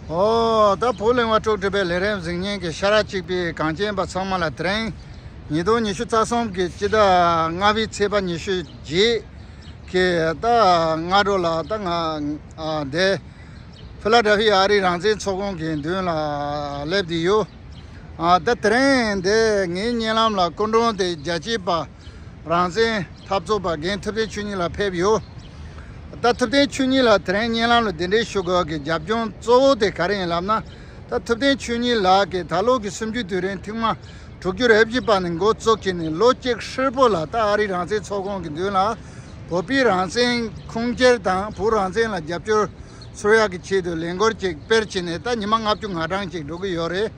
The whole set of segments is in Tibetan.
ཨོ། ད་བོ་གླེང་བ་དཀྲོག་སྒྲིག་པའི་ལས་རེབ་གཟིགས་སྙན་གྱི་ཤ་ར་གཅིག་པའི་གངས་ཅན་པ་ཚང་མ་ལ་དྲན། ཉིས་སྟོང་ཉི་ཤུ་རྩ་གསུམ་གྱི་སྤྱི་ཟླ་ལྔ་བའི་ཚེས་པ་ཉི་ཤུ་རྗེས་ཀྱི་ད་སྔ་དྲོ་ལ་ད་སྔ་བདེ། ཕི་ལ་ཏྲ་ཧྥི་ཨ་རིའི་རང་བཙན་ཚོགས་ཁང་གི་མདུན་ལ་སླེབས་བསྡད་ཡོད། ད་དྲན། འདི་ངའི་བརྙན་ལམ་ལ་སྐུ་མགྲོན་དེ་རྒྱལ་གཅེས་པ། རང་བཙན། འཐབ་རྩོད་པ་རྒན་ཐུབ་བསྟན་ཆོས་ཉིད་ལགས་ཕེབས་ཡོད། ད་ཐུབ་བསྟན་ཆོས་ཉིད་ལགས་དེ་རིང་བརྙན་ལམ་ལ་འདི་འདྲའི་ཞུ་དགོས་ཀྱི་རྒྱབ་ལྗོངས་གཙོ་བོ་དེ་ག་རེ་ཡིན་ལབ་ན། ད་ཐུབ་བསྟན་ཆོས་ཉིད་ལགས་ཀྱིས་ད་ལོ་གི་སུམ་ཅུའི་དུས་རིང་ཐེངས་མ་དྲུག་ཅུ་རེ་བཞི་པ་ནས་མགོ་བཙུགས་ཀྱིས་ནས་ལོ་གཅིག་ཧྲིལ་པོ་ལ་ད་ཨ་རིའི་རང་བཙན་ཚོགས་ཁང་གི་མདུན་ལ་བོད་པའི་རང་བཙན་ཁུངས་སྐྱེལ་དང་བོད་རང་བཙན་ལ་རྒྱབ་སྐྱོར་ཚུར་ཡག་གི་ཆེད་དུ་ལས་འགོར་ཅིག་སྤེལ་བྱས་ནས་ད་ཉི་མ་ལྔ་བཅུ་ང་གྲངས་ཅིག་འགྲོ་གི་ཡོད་རེད།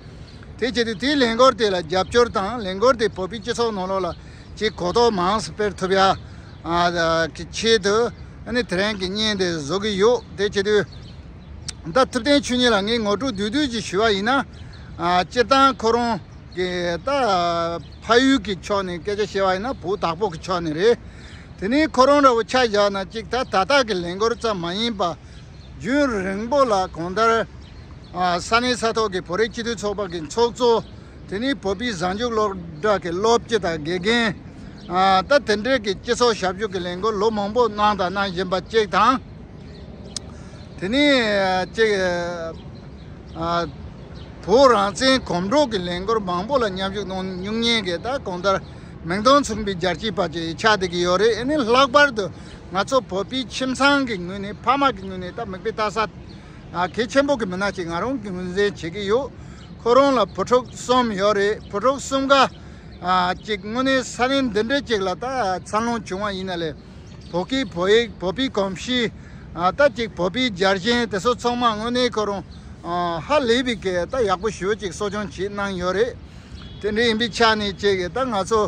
དེ་བྱས་ཏེ་དེའི་ལས་འགོར་དེ་ལ་རྒྱབ་སྐྱོར་དང་ལས་འགོར་དེ་བོད་པའི་སྤྱི་ཚོགས་ནང་ལོགས་ལ་ཆེས་གོ་རྟོགས་མང་སུ་སྤེལ་ཐུབ་ཡ་གི་ཆེད་དུ་ནི་དེ་རིང་གི་བརྙན་དེ་བཟོ་གི་ཡོད་དེ་བྱས་དུས་ད་ཐུབ་བསྟན་ཆོས་ཉིད་ལ་ངས་ངོ་སྤྲོད་དུས་དུས་ཀྱི་ཞུ་བ་ཡིན་ན། སྤྱིར་བཏང་ཁོ་རང་གི་ད་ཕ་ཡུལ་གྱི་ཕྱོགས་ནས་སྐད་ཆ་བཤད་བ་ཡིན་ན་བུ་དྭགས་པོ་གི་ཕྱོགས་ནས་རེད། དེ་ནས་ཁོ་རང་ར་བོ་ཆ་བཞག་ན་ཅིག་ད་ད་ལྟ་གི་ལས་འགོར་ཙམ་མ་ཡིན་པ། རྒྱུན་རིང་པོ་ལ་གོང་ལྟར་ས་གནས་ས་ཐོག་གི་བོད་རིགས་སྤྱི་འཐུས་ཚོགས་པ་གི་ཚོགས་གཙོ། དེ་ནི་བོད་པའི་གཟའ་མཇུག་སློབ་གྲྭ་གི་སློབ་སྤྱི་དང་དགེ་རྒན། ད་དེ་འབྲེལ་གྱི་སྤྱི་ཚོགས་ཞབས་ཞུ་གི་ལས་འགུལ་ལོ་མང་པོ་གནང་དང་གནང་བཞིན་པ་གཅིག་དང། དེ་ནས་གཅིག་བོད་རང་བཙན་གོམ་བགྲོད་ཀྱི་ལས་འགུལ་མང་པོ་ལ་མཉམ་ཞུགས་གནང་མྱོང་མཁན་གྱི་ད་གོང་ལྟར་མིང་དོན་མཚུངས་པའི་རྒྱལ་གཅེས་དཔའ་གཅེས་ཆགས་བསྡད་ཀྱི་ཡོད་རེད་ཨེ་ནི་ལྷག་པར་དུ། ང་ཚོ་བོད་པའི་ཁྱིམ་ཚང་གི་ངོས་ནས་ཕ་མ་གི་ངོས་ནས་ད་མིག་དཔེ་ལྟ་ས་གལ་ཆེན་པོ་གི་མི་སྣ་ཞིག་ང་རང་གི་ངོས་ཟིན་བྱེད་ཀྱི་ཡོད། ཁོ་རང་ལ་བུ་ཕྲུག་གསུམ་ཡོད་རེད་བུ་ཕྲུག་གསུམ་ག་ཅིག་དངོས་གནས་ས་གནས་འདི་འདྲ་ཅིག་ལ་ད་འཚར་ལོངས་བྱུང་བ་ཡིན་ན་ལས་བོད་སྐད་བོད་ཡིག་བོད་པའི་གོམས་གཤིས་ད་ཅིག་བོད་པའི་རྒྱལ་ཞེན་དེ་ཚོ་ཚང་མ་དངོས་གནས་ཁོ་རང་ཧ་ལས་པའི་སྐད་ད་ཡག་པོ་ཞོད་ཅིག་གསོ་སྐྱོང་བྱེད་གནང་ཡོད་རེད་དེ་འདྲ་ཡིན་པའི་ཆ་ནས་ཅིག་ད་ང་ཚོ་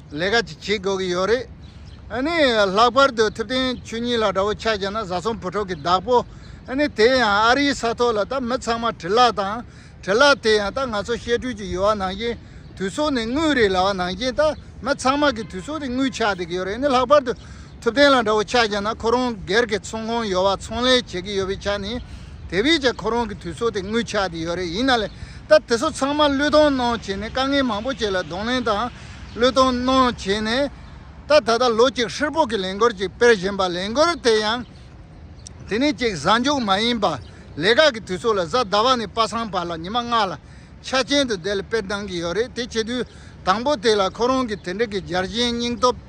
ལས་ཀ་ཅིག་བྱེད་དགོས་ཀྱི་ཡོད་རེད། ཨཱ་ནི། ལྷག་པར་དུ་ཐུབ་བསྟན་ཆོས་ཉིད་ལ་དགྲ་བོ་ཆགས་ཀྱང་ན་བཟའ་ཚང་བུ་ཕྲུག་གི་བདག་པོ། ཨཱ་ནི། དེ་ཡང་ཨ་རིའི་ས་ཐོག་ལ་ད་མི་ཚང་མ་དྲིལ་ལག་དང། དྲིལ་ལག་དེ་ཡང་ད་ང་ཚོ་བཤད་སྒྲོས་ཀྱི་ཡོལ་བ་ནང་བཞིན་དུས་སོག་ནས་དངུལ་རེ་ལ་བ་ནང་བཞིན་ད་མི་ཚང་མ་གི་དུས་སོག་རེ་དངུལ་ཆགས་བསྡད་ཀྱི་ཡོད་རེད་ཨཱ་ནི་ལྷག་པར་དུ་ཐུབ་བསྟན་ལ་དགྲ་བོ་ཆགས་ཀྱང་ན་ཁོ་རང་སྒེར་གྱི་ཚོང་ཁང་ཡོལ་བ་ཚོང་ལས་བྱེད་ཀྱི་ཡོད་པའི་ཆ་ནས་དེ་བས་ཀྱང་ཁོ་རང་གི་དུས་སོག་དེ་དངུལ་ཆགས་བསྡད་ཡོད་རེད་ཡིན་ན་ལེ་ད་དེ་ཚོ་ཚང་མ་བློས་གཏོང་གནང་བྱས་ནས་དཀའ་ངལ་མང་པོ་བྱས་ལ་གདོང་ལེན་དང། བློས་གཏོང་གནང་བྱས་ནས། ད་ད་ལྟ་ལོ་གཅིག་ཧྲིལ་པོ་གི་ལས་འགུལ་ཅིག་སྤེལ་བཞིན་པ་ལས་འགུལ་དེ་ཡང་དེ་ནས་གཅིག་གཟའ་མཇུག་མ་ཡིན་པར་ལས་ཀ་གི་དུས་ཚོད་ལ་གཟའ་ཟླ་བ་ནས་པ་སངས་བར་ལ་ཉི་མ་ལྔ་ལ་ཆ་རྐྱེན་དུ་བསྡད་ལ་སྤེལ་གཏང་གི་ཡོད་རེད་དེ་བྱེད་དུས་དང་པོ་དེ་ལ་ཁོ་རང་གི་དེ་འབྲེལ་གྱི་འཇར་ཞེན་སྙིང་སྟོབས་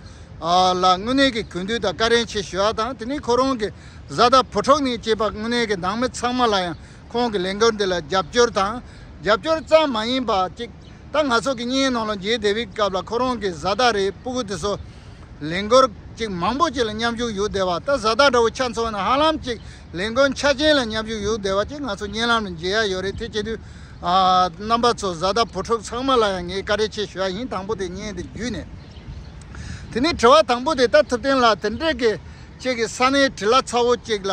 ལ་དངོས་གནས་ཀྱི་གུས་འདུད་དང་བཀའ་དྲིན་ཆེ་ཞུ་བ་དང་དེ་ནས་ཁོ་རང་གི་བཟའ་ཟླ་བུ་ཕྲུག་ནས་བཅས་པ་དངོས་གནས་ཀྱི་ནང་མི་ཚང་མ་ལ་ཡང་ཁོང་གི་ལས་འགུལ་འདི་ལ་རྒྱབ་སྐྱོར་དང། རྒྱབ་སྐྱོར་ཙམ་མ་ཡིན་པ་གཅིག་ད་ང་ཚོ་གི་སྙིང་ནང་ལ་རྗེ་དེ་བིའི་སྐབས་ལ་ཁོ་རང་གི་བཟའ་ཟླ་རེད་སྤུ་གུ་དེ་སོགས་ལས་འགུལ་གཅིག་མང་པོ་གཅིག་ལ་མཉམ་ཞུགས་ཡོད་བསྡད་པ་ད་བཟའ་ཟླ་འདྲ་བོ་ཆ་མཚོན་ན་ཧ་ལམ་ཅིག་ལས་འགུལ་འཆར་ཅན་ལ་མཉམ་ཞུགས་ཡོད་བསྡད་པ་གཅིག་ང་ཚོ་སྙན་ལམ་ལ་མཇལ་ཡ་ཡོད་རེད་དེ་བྱེད་དུས་རྣམ་པ་ཚོ་བཟའ་ཟླ་བུ་ཕྲུག་ཚང་མ་ལ་ཡང་ངས་བཀའ་དྲིན་ཆེ་ཞུ་ཡ་ཡིན་དང་པོ་དེ་བརྙན་དེ་བརྒྱུད་ནས་དེ་ནས་དྲི་བ་དང་པོ་དེ་ལྟར་ཐུབ་བསྟན་ལགས་དེ་འདྲས་ཀྱི་ཁྱེད་ཀྱི་ས་གནས་དྲི་བླ་ཚ་བོ་གཅིག་ལ།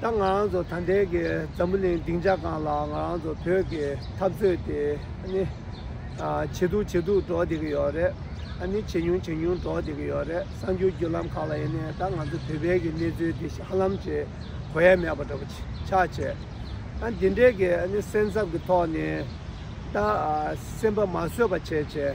ད་ང་རང་ཚོ་ད་ལྟའི་གི་འཛམ་བུ་གླིང་སྡིངས་ཆ་གང་ལ་ང་རང་ཚོ་བོད་ཀྱི་འཐབ་རྩོད་དེ་ནི། ཇེ་སྡུག་ཇེ་སྡུག་འགྲོ་བསྡད་ཀྱི་ཡོད་རེད། ཨ་ནི་ཇེ་ཉུང་ཇེ་ཉུང་འགྲོ་བསྡད་ཀྱི་ཡོད་རེད་གསར་འགྱུར་བརྒྱུད་ལམ་ཁག་ལ་ཡིན་ནའི་ད་ང་ཚོ་བོད་པའི་གི་གནས་ཚུལ་དེ་ཧ་ལམ་གྱི་གོ་ཡ་མེད་པ་འདྲ་པོ་ཆགས་བྱས། ཨ་འདི་འདྲའི་གི་ཨ་ནི་སེམས་འཚབ་ཀྱི་ཐོག་ནས་ད་སེམས་པ་མ་བཟོད་པ་བྱས་བྱས།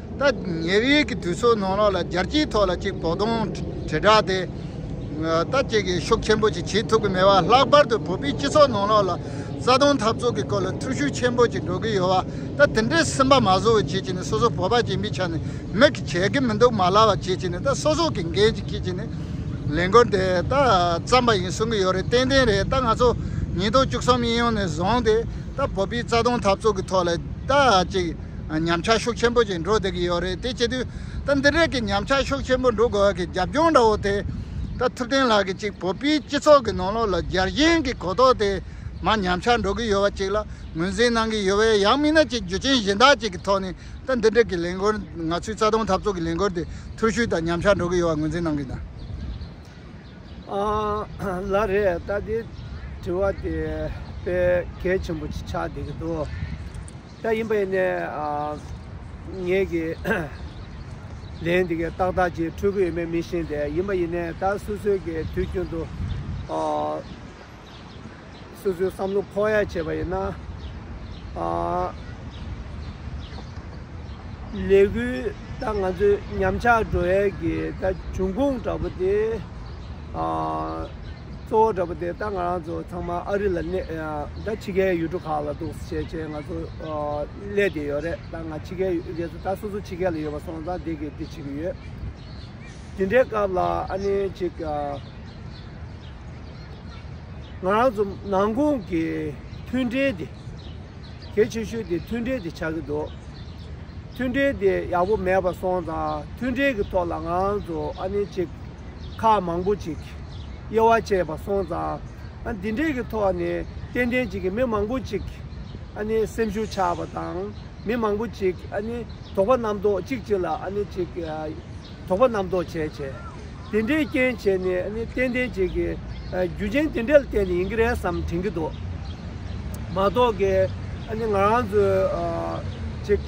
ད་ཉེ་ཡོལ་གྱི་དུས་ཚོད་ནང་རང་ལ་རྒྱལ་སྤྱིའི་ཐོག་ལ་གཅིག་བོགས་གཏོང་དྲིལ་བསྒྲགས་དེ་ད་ཅི་གིས་ཤུགས་ཆེན་པོ་ཅིག་བྱེད་ཐུབ་ཀྱི་མེད་བ་ལྷག་པར་དུ་བོད་པའི་སྤྱི་ཚོགས་ནང་རང་ལ་རྩ་དོན་འཐབ་རྩོད་ཀྱི་སྐོར་ལ་འཐུས་ཤུགས་ཆེན་པོ་ཅིག་འགྲོ་གི་ཡོད་བ་ད་དེ་འདྲའི་སེམས་པ་མ་བཟོ་བའི་ཆེད་ཀྱི་ནི་སོ་སོ་བོད་པ་སྦྱིན་པའི་ཆ་ནས་མི་གིས་བྱེད་ཀྱི་མི་འདུག་མ་ལགས་བ་ཆེད་ཀྱི་ནི་ད་སོ་སོ་གིས་འགན་ཅིག་ཁྱེད་ཀྱིས་ནི་ལས་འགུལ་དེ་ད་བརྩམས་པ་ཡིན་གསུང་གི་ཡོད་རེད་ཏན་ཏན་རེད་ད་ང་ཚོ་ཉིས་སྟོང་བཅུ་གསུམ་དབྱིན་ཡུལ་ནས་བཟུང་སྟེ་ད་བོད་པའི་རྩ་དོན་འཐབ་རྩོད་ཀྱི་ཐོག་ལ་ད་ཅིག་ཉམས་ཆག་ཤུགས་ཆེན་པོ་ཞིག་འགྲོ་བསྡད་ཀྱི་ཡོད་རེད་དེ་བྱེད་དུས་ད་འདི་རིགས་ཀྱི་ཉམས་ཆག་ཤུགས་ཆེན་པོ་འགྲོ་དགོས་ཀྱི་རྒྱབ་ལྗོངས་འདྲ་བོ་དེ། ད་ཐུབ་བསྟན་ལགས་ཀྱིས་གཅིག་བོད་པའི་སྤྱི་ཚོགས་ཀྱི་ནང་ལོགས་ལ་རྒྱལ་གཞེན་གྱི་གོ་རྟོགས་དེ་མ་ཉམས་ཆག་འགྲོ་གི་ཡོད་པ་ཅིག་ལ་ངོས་འཛིན་གནང་གི་ཡོད་པས་ཡང་མིན་ན་ཅིག་རྒྱུ་ཅན་གཞི་བདག་ཅིག་གི་ཐོག་ནས་ད་འདི་འགྲིག་གི་ལས་འགུལ་ང་ཚོའི་རྩ་དོན་འཐབ་རྩོད་ཀྱི་ལས་འགུལ་དེ་ཐུར་ཤུལ་དང་ཉམས་ཆག་འགྲོ་གི་ཡོད་པ་ངོས་འཛིན་གནང་གི་འདུག། ལ་རེད་ད་དེ་དྲི་བ་དེ་དཔེ་གལ་ཆེན་པོ་ཅིག་ཆགས་བསྡད་ཀྱི་འདུག། ད་ཡིན་པས་ན་ངེད་ཀྱིས་ལན་འདི་གའི་ཏག་ཏག་ཅིག་འཕྲོད་ཀྱི་ཡོད་མེད་མི་ཤེས་ཏེ་ཡིན་པ་ཡིན་ནས་ད་སོ་སོའི་གི་དུས་རྒྱུན་དུ་སོ་སོའི་བསམ་བློ་ཕོག་ཡ་བྱས་པ་ཡིན་ན། ལས་འགུལ་ད་ང་ཚོའི་ཉམས་ཆག་འགྲོ་ཡ་གི་ད་འབྱུང་ཁུངས་འདྲ་པོ་དེ། གཙོ་བོ་འདྲ་པོ་དེ་ད་ང་རང་ཚོ་ཚང་མ་ཨ་རི་ལ་གནས་ད་ཕྱི་རྒྱལ་ཡུལ་གྲུ་ཁག་ལ་འདུག་བྱས་བྱས་ང་ཚོ་གླས་དེ་ཡོད་རེད་ད་ང་ཕྱི་རྒྱལ་ཡུལ་ད་སོ་སོ་ཕྱི་རྒྱལ་ལ་ཡོད་པ་སོང་ཙང་དེ་གི་དེ་བྱེད་ཀྱི་ཡོད། དེ་འདྲའི་སྐབས་ལ་ཨ་ནེ་ཅིག་ང་རང་ཚོ་ནང་ཁུང་གི་མཐུན་འབྲེལ་དེ་གལ་ཆེ་ཤོས་དེ་མཐུན་འབྲེལ་དེ་ཆགས་ཀྱི་འདུག་མཐུན་འབྲེལ་དེ་ཡག་པོ་མེད་པ་སོང་ཙང་མཐུན་འབྲེལ་གྱི་ཐོག་ལ་ང་རང་ཚོ་ཨ་ནེ་ཅིག། ཁག་མང་པོ་ཅིག་དབྱེ་བ་བྱས་པ་སོང་ཙང། འདི་འདྲས་ཀྱི་ཐོག་ནས་ཏན་ཏན་ཅིག་མི་མང་པོ་ཅིག་སེམས་ཤུགས་ཆག་པ་དང། མི་མང་པོ་ཅིག་དོགས་པ་རྣམ་རྟོག་ཅིག་ཅིག་ལ་ཅིག་དོགས་པ་རྣམ་རྟོག་བྱས་བྱས། དེ་འདྲའི་རྐྱེན་བྱས་ནས་ཏན་ཏན་ཅིག་གི་རྒྱུ་རྐྱེན་དེ་འདྲས་ལ་བརྟེན་ནས་ཡིན་གྱི་རེད་བསམ་དྲན་གྱི་འདུག་མ་གཏོགས་ཀྱི་ང་རང་ཚོའི་ཅིག།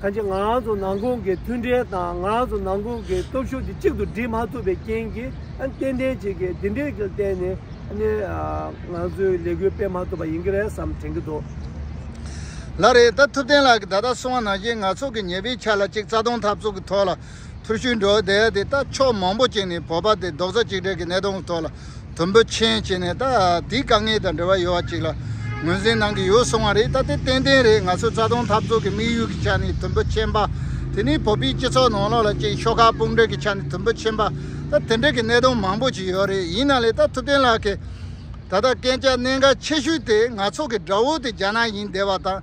ཐ་ཆད་ང་རང་ཚོ་ནང་ཁུངས་ཀྱི་མཐུན་འབྲེལ་དང་ང་རང་ཚོ་ནང་ཁུངས་ཀྱི་སྟོབས་ཤུགས་དེ་གཅིག་ཏུ་སྒྲིལ་མ་ཐུབ་པའི་རྐྱེན་གྱིས་ཏན་ཏན་ཅིག་གིས་འདི་འདྲའི་གིར་བརྟེན་ནས་ང་ཚོའི་ལས་འགུལ་སྤེལ་མ་ཐུབ་པ་ཡིན་གྱི་རེད་བསམ་དྲན་གྱི་འདུག། ལ་རེད་ད་ཐུབ་བསྟན་ལགས་ཀྱིས་ད་ལྟ་སོང་བ་ནང་བཞིན་ནག་ཚོགས་ཀྱི་ཉེས་པའི་ཆ་ལ་གཅིག་རྩ་སྟོང་འཐབ་རྩོད་ཀྱི་ཐོག་ལ་ཐུར་ཤུལ་འབྲོག་སྡེ་དེ་ད་ཕྱོགས་མང་པོ་ཅིག་ནས་བོད་པ་དེ་རྡོག་རྩ་གཅིག་སྒྲིལ་གྱི་གནད་དོན་གྱི་ཐོག་ལ་དུམ་བུ་ཆེན་བྱས་ནས་ད་དེའི་དཀའ་ངལ་དང་འབྲེལ་བ་ཡོད་པ་ཅིག་ལ་ངོས་འཛིན་གནང་གི་ཡོད་གསུངས་བ་རེད་ད་དེ་ཏན་ཏན་རེད་ང་ཚོའི་རྩ་དོན་འཐབ་རྩོད་ཀྱི་དམིགས་ཡུལ་གྱི་ཆ་ནས་དུམ་བུ་ཆེན་པ་དེ་ནི་བོད་པའི་སྤྱི་ཚོགས་ནང་ལོགས་ལ་ཅིག་ཤོག་ཁག་དཔུང་སྒྲིག་གི་ཆ་ནས་དུམ་བུ་ཆེན་པ་ད་དེ་འདྲ་གི་གནད་དོན་མང་པོ་ཅིག་ཡོད་རེད་ཡིན་ན་ལེ་ད་ཐུབ་བསྟན་ལགས་ཀྱིས་ད་ལྟ་སྐད་ཆ་གནད་འགག་ཆེ་ཤོས་དེ་ང་ཚོ་གི་དགྲ་བོ་དེ་རྒྱ་ནག་ཡིན་བསྡད་པ་དང།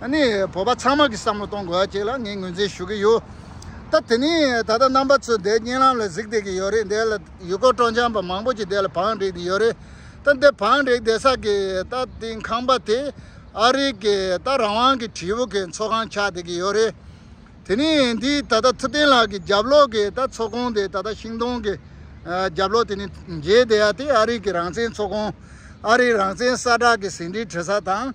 ནི་བོད་པ་ཚང་མ་གི་བསམ་བློ་གཏོང་དགོས་ཀྱི་ལ་ངས་ངོས་འཛིན་ཞུ་གི་ཡོད། ད་དེ་ནི་ད་ལྟ་རྣམ་པ་ཚོས་འདའི་བརྙན་ལམ་ལ་གཟིགས་བསྡད་ཀྱི་ཡོད་རེད་འདའི་ལ་ཡུལ་སྐོར་སྤྲོ་འཆམ་པ་མང་པོ་ཅིག་འདའི་ལ་བང་བསྒྲིགས་བསྡད་ཡོད་རེད་ད་འདའི་བང་བསྒྲིགས་བསྡད་ས་གི་ད་དེའི་ཁང་པ་དེ་ཨ་རིག་གི་ད་རང་དབང་གི་དྲིལ་བུ་གི་འཚོ་ཁང་ཆགས་བསྡད་ཀྱི་ཡོད་རེད། དེ་ནི་འདི་ད་ལྟ་ཐུབ་བསྟན་ལགས་ཀྱི་རྒྱབ་ལོགས་ཀྱི་ད་འཚོ་ཁང་དེ་ད་ལྟ་ཤིང་སྡོང་གི་རྒྱབ་ལོགས་དེ་ནི་མཇལ་བསྡད་ཡ་དེ་ཨ་རིག་གི་རང་བཙན་འཚོ་ཁང་ཨ་རིག་རང་བཙན་གསར་བསྒྲགས་གི་ཟིན་བྲིས་བྲི་ས་དང།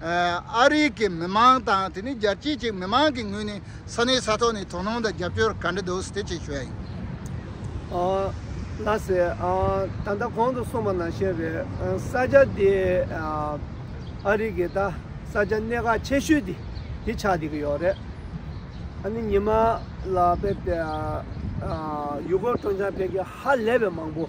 ཨ་རིའི་གི་མི་མང་དང་དེ་ནི་རྒྱལ་སྤྱིའི་གྱི་མི་མང་གི་ངོས་ནས་ས་གནས་ས་ཐོག་ནས་དོ་སྣང་དང་རྒྱབ་སྐྱོར་ག་འདྲ་འདུག་ཟེར་ཆེད་ཞུ་ཡ་ཡིན། ལ་ཟེར། ད་ལྟ་གོང་དུ་སོང་བ་ན་བཤད་པའི་ས་ཆ་དེ་ཨ་རིའི་གི་ད་ས་ཆ་གནད་འགག་ཆེ་ཤོས་དེ་དེ་ཆགས་བསྡད་ཀྱི་ཡོད་རེད། ཨ་ནི་ཉི་མ་ལ་བལྟས་པས་ཡུལ་སྐོར་མཐོང་ཆ་བལ་གྱི་ཧ་ལས་པའི་མང་པོ།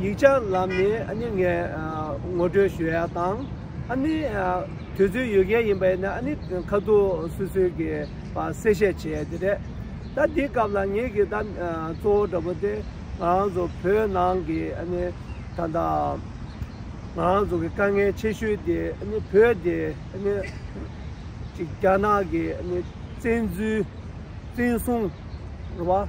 ཡིག་ཆ་ལམ་ནས་ངས་ངོ་སྤྲོད་ཞུ་ཡ་དང། དུས་ཚོད་ཡོད་མཁན་ཡིན་པ་ཡིན་ན་ཁ་ཐུག་སུད་སུད་ཀྱི་གསལ་བཤད་བྱེད་ཡ་དེ་རེད། ད་འདི་སྐབས་ལ་ངེད་ཀྱི་གཙོ་བོ་འདྲ་པོ་དེ་ང་རང་ཚོ་བོད་ནང་གི་ད་ལྟ་ང་རང་ཚོ་གི་དཀའ་ངལ་ཆེ་ཤོས་དེ་བོད་དེ་རྒྱ་ནག་གི་བཙན་འཛུལ་བཙན་བཟུང་རེད་བ།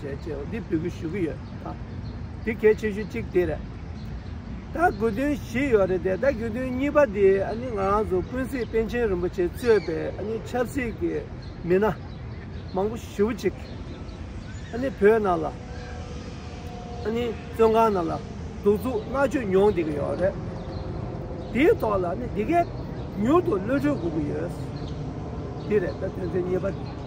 ཞེས་ཅེས་པ་འདི་འབུལ་དགོས་ཞུ་གི་ཡོད་ཨ། འདི་གལ་ཆེ་ཤོས་གཅིག་དེ་རེད། ད་དགོས་དོན་བཞི་ཡོད་རེད་དེ་ད་དགོས་དོན་གཉིས་པ་དེ་ཨ་ནི་ང་རང་ཚོ་ཀུན་གཟིགས་པཎ་ཆེན་རིན་པོ་ཆེ་གཙོས་པའི་ཨ་ནི་ཆབ་སྲིད་ཀྱི་མི་སྣ་མང་པོ་ཞིབ་པོ་ཅིག་ཨ་ནི་བོད་ནང་ལ་ཨ་ནི་བཙོན་ཁང་ནང་ལ་གདུག་རྩུབ་མནར་གཅོད་མྱོང་བསྡད་ཀྱི་ཡོད་རེད། དེའི་ཐོག་ལ་ཨ་ནི་འདི་གས་མྱུར་དུ་གློད་གྲོལ་དགོས་ཀྱི་ཡོད། འདི་རེད་ད་དོན་ཚན་གཉིས་པ།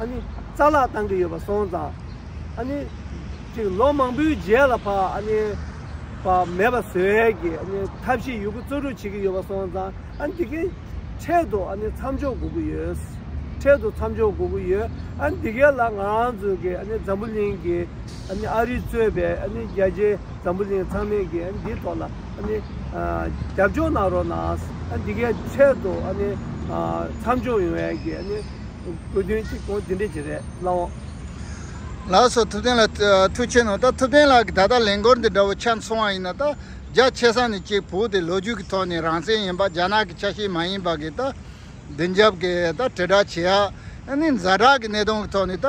ཨ་ནི། རྩ་ལག་བཏང་གི་ཡོད་པ་སོང་ཙང། ཨ་ནི། ཅིག་ལོ་མང་པོའི་རྗེས་ལ་ཕ་ཨ་ནི། ཕ་མེད་པ་ཟེར་བས་ཀྱི་ཨ་ནི་ཐབས་ཤེས་ཡོད་རྒུ་རྩོད་རུག་བྱེད་ཀྱི་ཡོད་པ་སོང་ཙང་ཨ་ནི་འདི་གའི། འཕྲལ་དུ་ཨ་ནི་མཚམས་འཇོག་དགོས་ཀྱི་ཡོད། འཕྲལ་དུ་མཚམས་འཇོག་དགོས་ཀྱི་ཡོད། ཨ་ནི་འདི་གའི་ལ་ང་རང་ཚོའི་གི་ཨ་ནི་འཛམ་བུ་གླིང་གི། ཨ་ནི་ཨ་རིས་གཙོས་པའི་ཨ་ནི་རྒྱལ་སྤྱིའི་འཛམ་བུ་གླིང་ཚང་མས་ཀྱི་ཨ་ནི་འདིའི་ཐོག་ལ་ཨ་ནི། རྒྱབ་སྐྱོར་གནང་རོགས་གནང། ཨ་ནི་འདི་གའི་འཕྲལ་དུ་ཨ་ནི། མཚམས་འཇོག་ཡོང་བས་ཀྱི་ཨ་ནི། བཀོད་དོན་གཅིག་གོ་དེ་འདྲས་ཀྱི་རེད་བླ་འོང། ལགས་སོ་ཐུབ་བསྟན་ལགས་ཐུགས་ཆེ་ནོ་ད་ཐུབ་བསྟན་ལགས་ཀྱི་ད་ལྟ་ལས་འགོར་འདི་འདྲ་བོ་ཆགས་སོང་བ་ཡིན་ན་ད་རྒྱ་ཆེ་ས་ནས་གཅིག་བུ་དེ་ལོ་རྒྱུས་ཀྱི་ཐོག་ནས་རང་བཙན་ཡིན་པ་རྒྱ་ནག་གི་ཆ་ཤས་མ་ཡིན་པ་གིས་ད་བདེན་རྒྱབ་གིས་ད་དྲིལ་བསྒྲགས་བྱེད་ཡ་ནི་ཛ་དྲག་གི་གནས་སྟངས་ཀྱི་ཐོག་ནས་ད་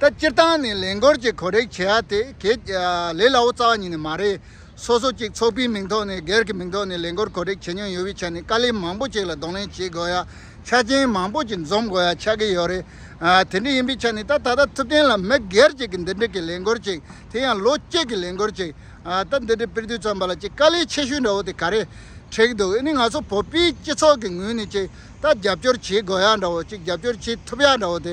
ད་སྤྱིར་བཏང་ནས་ལས་འགོར་གྱི་གོ་རེག་བྱེད་ཡ་དེ་གལ་ལེ་ལ་བོ་རྩ་བ་ཉིད་ནས་མ་རེད། སོ་སོ་གཅིག་ཚོགས་པའི་མིང་ཐོག་ནས་སྒེར་གྱི་མིང་ཐོག་ནས་ལས་འགོར་གོ་རེག་བྱེད་མྱོང་ཡོད་པའི་ཆ་ནས་དཀའ་ལས་མང་པོ་ཅིག་ལ་གདོང་ལེན་བྱེད་དགོས་ཡ་ཆ་རྐྱེན་མང་པོ་ཅིག་འཛོམས་དགོས་ཡ་ཆགས་ཀྱི་ཡོད་རེད། དེ་འདྲ་ཡིན་པའི་ཆ་ནས་ད་ད་ལྟ་ཐུབ་བསྟན་ལ་མི་སྒེར་གཅིག་གི་འདི་འདྲི་གི་ལས་འགོར་ཅིག་དེ་ཡང་ལོ་གཅིག་གི་ལས་འགོར་ཅིག་ད་འདི་འདྲི་སྤེལ་དུས་ཙམ་པ་ལ་ཅིག་དཀའ་ལས་ཆེ་ཤོས་འདྲ་བོ་དེ་ག་རེ་འཁྲེགས་འདུག་ཨེ་ནི་ང་ཚོ་བོད་པའི་སྤྱི་ཚོགས་ཀྱི་ངོས་ནས་ཅིག་ད་རྒྱབ་སྐྱོར་བྱེད་དགོས་ཡ་འདྲ་བོ་ཅིག་རྒྱབ་སྐྱོར་བྱེད་ཐུབ་ཡ་འདྲ་བོ་དེ་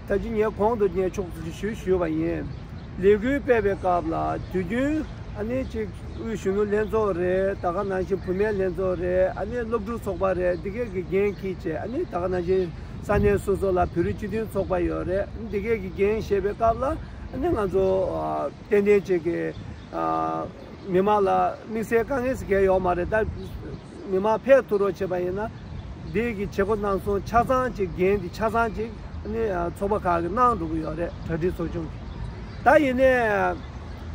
ད་ཅི་ངས་གོང་དུ་ངས་ཕྱོགས་བསྡུས་ཞུ་ཞུས་པ་ཡིན། ལས་འགུལ་སྤེལ་བའི་སྐབས་ལ་དུས་རྒྱུན་ཨ་ནེ་གཅིག་དབུས་གཞོན་ནུ་ལྷན་ཚོགས་རེད་ད་ག་ནང་བཞིན་བུད་མེད་ལྷན་ཚོགས་རེད་ཨ་ནེ་སློབ་ཕྲུག་ཚོགས་པ་རེད་འདི་གས་ཀྱི་འགན་གྱིས་བྱེད་ཨ་ནེ་ད་ག་ནང་བཞིན་ས་གནས་སོ་སོ་ལ་བོད་རིགས་སྤྱི་མཐུན་ཚོགས་པ་ཡོད་རེད་འདི་གས་ཀྱི་འགན་བཞེས་པའི་སྐབས་ལ་ཨ་ནེ་ང་ཚོ་ཏན་ཏན་བྱེད་དགོས། མི་མང་ལ་དམིགས་བསལ་དཀའ་ངལ་ཟེར་མཁན་ཡོག་མ་རེད་ད། མི་དམངས་ཕལ་དུ་རོགས་བྱེད་པ་ཡིན། འདས་ཀྱི་བྱེད་སྒོ་གནང་སོང་ཆ་ཚང་གཅིག་རྒན་གྱི་ཆ་ཚང་གཅིག་ནི་ཚོགས་པ་ཁག་གི་གནང་འགྲོ་གི་ཡོད་རེད་གྲ་སྒྲིག་ཚོགས་ཆུང་གིས། ད་ཡིན་ནས།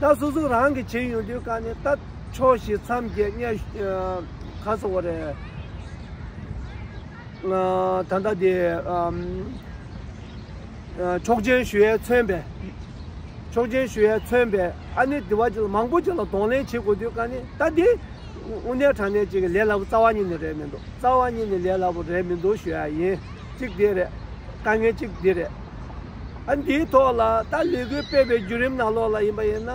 ད་སོ་སོ་རང་གིས་བྱེད་ཡོང་དུས་ཀ་ནས་ད་ཕྱོགས་བཞི་མཚམས་བརྒྱད་བརྙས། ག་ཚོད་བོ་རེད། ད་ལྟ་དེ། ཆོག་མཆན་ཞུ་ཡས་མཚོན་པས། ཆོག་མཆན་ཞུ་ཡས་མཚོན་པས་ཨ་ནི་དེ་བ་ཅིག་ལ་མང་པོ་ཅིག་ལ་གདོང་ལེན་བྱེད་དགོས་དུས་ཀ་ནས་ད་དེ། དབུ་ནལ་དྲང་ནལ་གཅིག་གི་ལས་སླ་པོ་རྩ་བ་ཉིད་ནས་རེད་མི་འདུག་རྩ་བ་ཉིད་ནས་ལས་སླ་པོ་རེད་མི་འདུག་ཞུ་ཡ་ཡིན་གཅིག་དེ་རེད། དཀའ་ངལ་གཅིག་འདི་རེད། ཨ་འདིའི་ཐོག་ལ་ད་ལས་འགུལ་སྤེལ་པའི་བརྒྱུད་རིམ་ནང་ལོགས་ལ་ཡིན་པ་ཡིན་ན་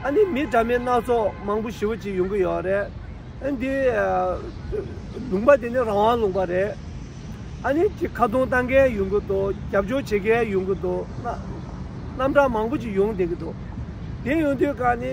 ཨ་ནི་མི་འདྲ་མིན་སྣ་ཚོགས་མང་པོ་ཞི་བོ་ཅིག་ཡོང་གི་ཡོད་རེད། ཨ་འདི། ལུང་པ་དེ་ནི་རང་དབང་ལུང་པ་རེད། ཨ་ནི་ཅིག་ཁ་རྡུང་གཏང་མཁན་ཡོང་གི་འདུག་རྒྱབ་སྐྱོར་བྱེད་མཁན་ཡོང་གི་འདུག། རྣམ་གྲངས་མང་པོ་ཅིག་ཡོང་བསྡད་ཀྱི་འདུག་དེ་ཡོང་དུས་གང་ནི།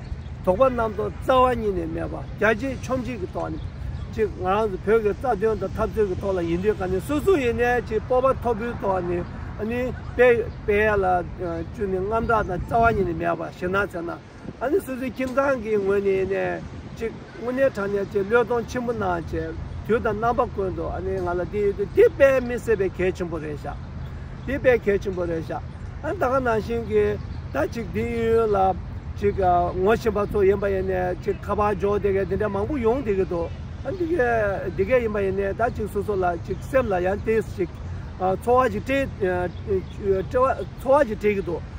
དོགས་པ་རྣམ་རྟོག་རྩ་བ་ཉིད་ནས་མེད་པ་རྒྱ་ཆེ་ཆོམ་ཆེ་གི་ཐོག་ནས། གཅིག་ང་རང་ཚོ་བོད་ཀྱི་རྩ་དོན་དང་འཐབ་རྩོད་ཀྱི་ཐོག་ལ་ཡིན་དུས་ཀ་ནས་སོ་སོ་ཡིན་ནས་ཅིག་སྤོབས་པ་མཐོ་པོའི་ཐོག་ནས་ཨ་ནི་དཔེ་དཔེ་ལ་བཅོལ་ནས་རྔམ་སྐྲག་དང་རྩ་བ་ཉིད་ནས་མེད་པ་ཞེ་ན་ཚེ་ན་ཨ་ནི་སོ་སོའི་ཁྱིམ་ཚང་གི་ངོས་ནས་ནས་ཅིག། དངོས་གནས་དྲང་གནས་ཀྱི་བློས་གཏོང་ཆེན་པོ་གནང་བཅས་དུས་དང་རྣམ་པ་ཀུན་ཏུ་ཨ་ནི་ང་ལ་དེ་ཡོད་དུས་དེ་དཔེ་མི་སྲིད་པའི་གལ་ཆེན་པོ་རེད་བཞག་དེ་དཔེ་གལ་ཆེན་པོ་རེད་བཞག་ཨ་ད་ག་ནང་བཞིན་གྱི་ད་ཅིག་དེ་ཡུན་ཡུན་ལ་ཅིག་ངོ་བཞིན་པ་ཚོ་ཡིན་པ་ཡིན་ནས་ཅིག་ཁ་པར་འཇོག་དེ་གས་དེ་འདྲས་མང་པོ་ཡོང་དེ་གི་འདུག་ཨ་འདི་གས་དེ་གས་ཡིན་པ་ཡིན་ནས་ད་ཅིག་སོ་སོ་ལ་ཅིག་སེམས་ལ་ཡང་དེས་ཅིག་ཚོར་བ་ཅིག་སྤྲད་ཚོར་བ་ཅིག་སྤྲད་གི་འདུག།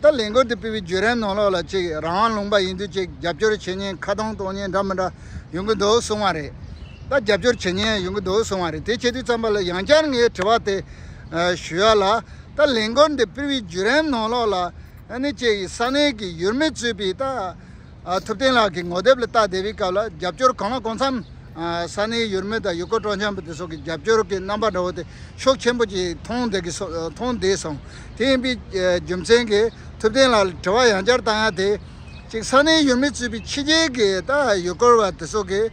ད་ལས་འགུལ་དེ་སྤེལ་བའི་བརྒྱུད་རིམ་ནང་ལོགས་ལ་གཅིག་རང་དབང་ལུང་པ་ཡིན་དུས་གཅིག་རྒྱབ་སྐྱོར་བྱེད་ཉེན་ཁ་གདང་གཏོང་ཉེན་འདྲ་མི་འདྲ་ཡོང་གི་འདུག་གསུང་བ་རེད། ད་རྒྱབ་སྐྱོར་བྱེད་ཉེན་ཡོང་གི་འདུག་གསུང་བ་རེད་དེ་བྱེད་དུས་ཙམ་པ་ལ་ཡང་བསྐྱར་ངས་དྲི་བ་དེ་ཞུ་ཡ་ལ། ད་ལས་འགུལ་འདི་སྤེལ་བའི་བརྒྱུད་རིམ་ནང་ལོགས་ལ་ནི་གཅིག་ས་གནས་ཀྱི་ཡུལ་མི་གཙོས་པའི་ད། ཐུབ་བསྟན་ལགས་ཀྱི་ངོ་དེབ་ལ་བལྟ་བསྡད་པའི་སྐབས་ལ་རྒྱབ་སྐྱོར་གང་ལ་གང་འཚམ། ས་གནས་ཡུལ་མི་དང་ཡུལ་སྐོར་སྤྲོ་འཆམ་པོ་དེ་སོགས་ཀྱི་རྒྱབ་སྐྱོར་གྱི་རྣམ་པ་འདྲ་བོ་དེ་ཤུགས་ཆེན་པོ་གྱིས་མཐོང་བསྡད་སོང། དེ་ཡིན་པའི་རྒྱུ་མཚན་གྱིས་ཐུབ་བསྟན་ལགས་ལ་དྲི་བ་ཡང་བསྐྱར་བཏང་ཡ་དེ། གཅིག་ས་གནས་ཡུལ་མི་ཚུད་པའི་ཕྱི་རྒྱལ་གྱི་ཡུལ་སྐོར་བ་དེ་སོགས་ཀྱིས།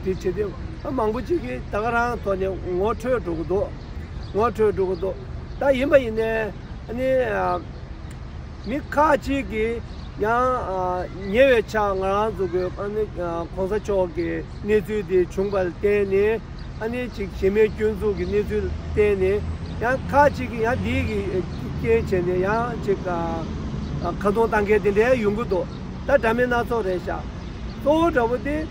དེ་བྱས་ཏེ་ཨ་མང་པོ་ཅིག་གིས་ད་ག་རང་ཐོག་ནས་ངོ་འཕྲོད་འགྲོ་གི་འདུག་ངོ་འཕྲོད་འགྲོ་གི་འདུག་ད་ཡིན་པ་ཡིན་ནའི་ནི། མི་ཁག་ཅིག་གིས་ཡང་ཉེ་བའི་ཆར་ང་རང་ཚོ་གི་ཨ་ནི་གོང་ས་མཆོག་གི་གནས་ཚུལ་དེ་བྱུང་པར་བརྟེན་ནས་ཨ་ནི་ཅིག་གཞི་མེད་སྐྱོན་འཛུགས་ཀྱི་གནས་ཚུལ་བརྟེན་ནས་ཡང་ཁག་ཅིག་གིས་ཡང་འདིའི་གི་རྐྱེན་བྱས་ནས་ཡང་ཅིག་ཁ་རྡུང་གཏང་མཁན་དེ་འདྲའི་ཡོང་གི་འདུག་ད་འདྲ་མིན་སྣ་ཚོགས་རེད་ཤག་གཙོ་བོ་འདྲ་བོ་དེ།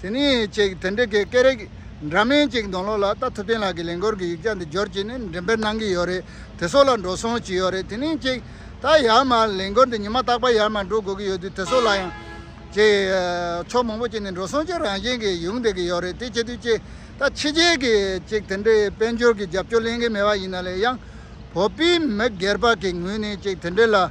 དེ་ནས་ཅིག་དེ་འདྲ་གི་སྐད་རིགས་འདྲ་མིན་ཅིག་འདོན་ལོ་ལ་ལྟ་ཐུབ་བསྟན་ལགས་ཀྱི་ལས་འགོར་གྱི་ཡིག་ཆ་འདི་འབྱོར་གྱིས་ནི་འགྲེམས་སྤེལ་གནང་གི་ཡོད་རེད་དེ་སོགས་ལ་འགྲོ་སོང་བྱས་ཡོད་རེད་དེ་ནས་ཅིག་ད་ཡར་མར་ལས་འགོར་འདི་ཉི་མ་རྟག་པར་ཡར་མར་འགྲོ་དགོས་ཀྱི་ཡོད་དུས་དེ་སོགས་ལ་ཡང། ཅེས། ཕྱོགས་མང་པོ་ཅིག་ནས་འགྲོ་སོང་བྱེད་རང་བཞིན་གྱིས་ཡོང་བསྡད་ཀྱི་ཡོད་རེད་དེ་བྱེད་དུས་ཅིག་ད་ཕྱི་རྒྱལ་གྱི་ཅིག་དེ་འདྲའི་དཔལ་འབྱོར་གྱི་རྒྱབ་སྐྱོར་གླེང་གི་མེད་པ་ཡིན་ན་ལས་ཡང། བོད་པའི་མི་སྒེར་པ་གི་ངོས་ནས་ཅིག་དེ་འདྲའི་ལ།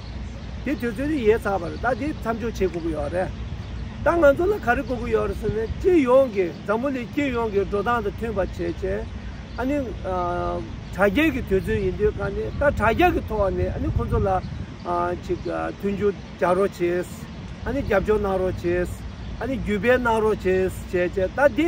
དེ་དུས་ཚོད་ནི་ཡལ་ཚར་བ་རེད་ད་དེ་མཚམས་འཇོག་བྱེད་དགོས་ཀྱི་ཡོད་རེད། ད་ང་ཚོ་ལ་ག་རེ་དགོས་ཀྱི་ཡོད་རེད་ཟེར་ནས་སྤྱི་ཡོངས་ཀྱི་འཛམ་བུ་གླིང་སྤྱི་ཡོངས་ཀྱི་འགྲོ་སྟངས་དང་མཐུན་པ་བྱེད་ཆེད་ཨ་ནི། དྲ་རྒྱའི་གི་དུས་ཚོད་ཡིན་དུས་ཀ་ནི་ད་དྲ་རྒྱ་གི་ཐོག་ནས་ཨ་ནི་ཁོ་ཚོ་ལ། ཅིག་མཐུན་འགྱུར་བྱ་རོགས་བྱེད། ཨ་ནི་རྒྱབ་སྐྱོར་གནང་རོགས་བྱེད། ཨ་ནི་བརྒྱུད་སྤེལ་གནང་རོགས་བྱེད་བྱས་ཆེད་ད་དེ།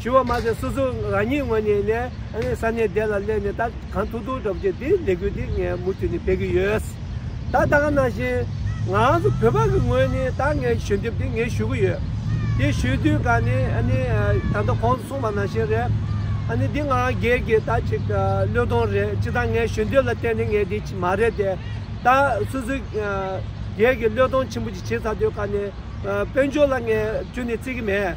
ཞུ་བ་མ་ཟད་སོ་སོ་རང་ཉིད་ངོས་ནས་ནས་ས་གནས་བདེ་ལ་སླེབས་ནས་ད་གང་ཐུག་ཐུག་འགྲོ་རྒྱུ་དེ་ལས་འགུལ་དེ་ངས་མུ་མཐུད་ནས་སྤེལ་གྱི་ཡོད། ད་ད་ག་ནང་བཞིན་ང་རང་ཚོ་བོད་པ་གི་ངོས་ནས་ད་ངས་ཞུ་འདེབས་དེ་ངས་ཞུ་གི་ཡོད། དེ་ཞུས་དུས་ག་ནས་ད་ལྟ་ཁོང་ཚོ་གསུངས་པ་ནང་བཞིན་རེད། འདི་ང་རང་སྒེར་གྱི་ད་ཅིག་བློས་གཏོང་རེད་ཅི་ད་ངས་ཞུ་འདེབས་ལ་བརྟེན་ནས་ངས་འདི་མ་རེད་དེ། ད་སུ་སུ་སྒེར་གྱི་བློས་གཏོང་ཆེན་པོ་ཅིག་བྱེད་ཚར་དུས་ག་ནས་དཔལ་འབྱོར་ལ་ངས་བཅུ་ནས་བརྩི་གི་མེད།